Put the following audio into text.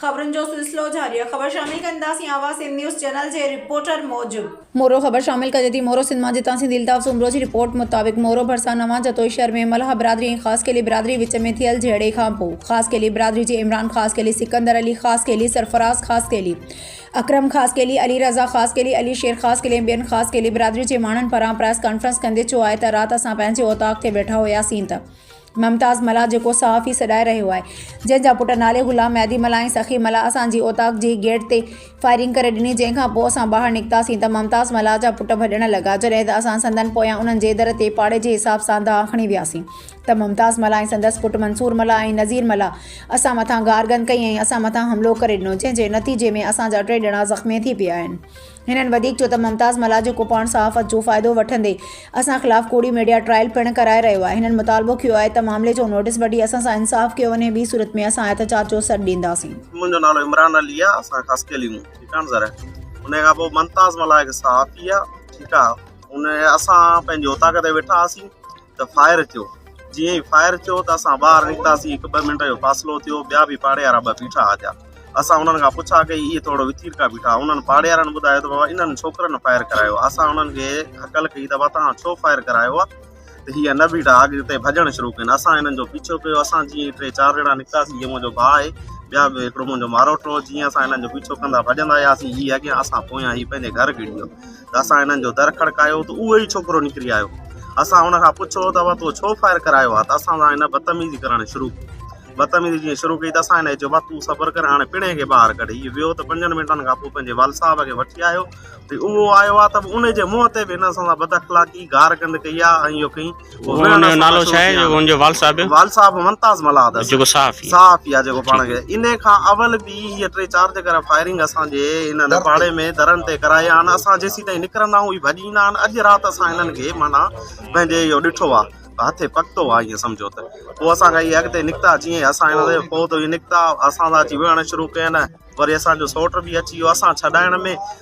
خبرن جو سلسلو جاري آهي خبر شامل ڪنداسين آواز سنڌ نيوز چينل جي رپورٽر موجب. مورو خبر شامل ڪجي ٿي مورو سنڌ مان جتان سنڌي الطاف سومرو جي رپورٽ مطابق مورو ڀرسان نوان جتوئي شهر ۾ ملهه برادري ۽ خاص خيلي برادري وچ ۾ ٿيل جهيڙي کان پو خاص خيلي برادري جي عمران خاص خيلي سڪندر علي خاص خيلي سرفراز خاص خيلي اڪرم خاص خيلي علي رضا خاص خيلي علي شير خاص خيلي ۽ ٻين خاص خيلي برادري جي ماڻهن پاران پريس ڪانفرنس ڪندي چيو آهي ته رات اسان پنهنجي اوطاق تي ويٺا هياسين ته ممتاز ملاح جيڪو صحافي سڏائي رهيو آهي، جنهن جا پٽ نالي غلام مهدي ملاح ۽ سخي ملاح اسان جي اوطاق جي گيٽ تي فائرنگ ڪري ڏني، جنهن کان پوء اسان ٻاهر نڪتاسين ته ممتاز ملاح جا پٽ ڀڄڻ لڳا، جڏهن ته اسان سندن پويان انهن جي در تي پاڙي جي حساب سان دانهن کڻي وياسين ته ممتاز ملاح ۽ سندس پٽ منصور ملاح ۽ نذير ملاح اسان مٿان گارگند ڪئي ۽ اسان مٿان حملو ڪري ڏنو، جنهن جي نتيجي ۾ اسان جا ٽي ڄڻا زخمي ٿي پيا آهن. هنن وڌيڪ چيو ته ممتاز ملاح جيڪو پاڻ صحافت جو فائدو وٺندي اسان خلاف ڪوڙي ميڊيا ٽرائل پڻ ڪرائي رهيو آهي، هنن مطالبو ڪيو آهي ته معاملي جو نوٽيس وٺي اسان سان انصاف ڪيو وڃي ٻي صورت ۾ اسان احتجاج جو سڏ ڏينداسين. منهنجو نالو عمران علي آ اسان خاص خيلي مون ٺيڪ آ نه سر انهي کان پوء ممتاز ملاح هڪ صحافي آ ٺيڪ آ انهي اسان پنهنجي اوطاق تي ويٺا هئاسين ته فائر ٿيو جيئن ئي فائر ٿيو ته اسان ٻاهر نڪتاسين هڪ ٻه منٽ جو فاصلو ٿيو ٻيا به پاڙي وارا ٻه بيٺا هئا اسان انهن کان پڇا ڪئي اهي ٿورڙو وٿير کان بيٺا انهن پاڙي وارن ٻڌايو ته بابا انهن ڇوڪرن فائر ڪرايو آهي اسان انهن کي هڪل ڪئي ته بابا تهان ڇو فائر ڪرايو آهي ته هي نه بيٺا اڳتي ڀڄڻ شروع ڪين اسان انهن جو پيڇو ڪيو اسان جيئن ٽي چار ڄڻا نڪتاسين جيئن منهنجو ڀاء آهي ٻيا به هڪڙو منهنجو ماروٽو جيئن اسان انهن جو پيڇو ڪندا ڀڄندا آياسين هي اڳيان اسان پويان هي پنهنجي گهر گهڙي ويو ته اسان هنن جو در کڙڪايو ته اهو ئي ڇوڪرو نڪري آيو. اسان هن کان پڇيو ته اوا تو ڇو فائر ڪرايو آ ته اسان سان هن بدتميزي ڪرڻ شروع ڪئي. بدتميزي جيئن شروع ڪئي ته اسان هن کي چيو ڀا تون صبر ڪر هاڻي پڻهي کي ٻاهر ڪڍ. هيء ويو ته پنجن منٽن کان پوء پنهنجي والد صاحب کي وٺي آيو ۽ اهو آيو آ ته به ان جي منهن تي به هن اسان سان بد اخلاقي، گار گند ڪئي آ ۽ اهو ڪئين ان جو نالو ڇا آهي ان جو وال صاحب وال صاحب ممتاز ملاد جيڪو صحافي صحافي آ جيڪو پاڻ کي ان کان اول به هي ٽي چار جي ڪري فائرنگ اسان جي ان نپاڙي ۾ درن تي ڪرائي آن اسان جيسي تائين نڪرندا هون هي ڀڄي نه آن اڄ رات اسان انن کي مانا پنهنجي اهو ڏٺو آ هٿي پڪتو آ ائين سمجهو ته پوء اسان کي هي اڳتي نڪتا جيئن اسان هن تي پوء ته هي نڪتا اسان سان اچي ويهڻ شروع ڪين وري اسان جو سوٽ به اچي ويو اسان ڇڏائڻ ۾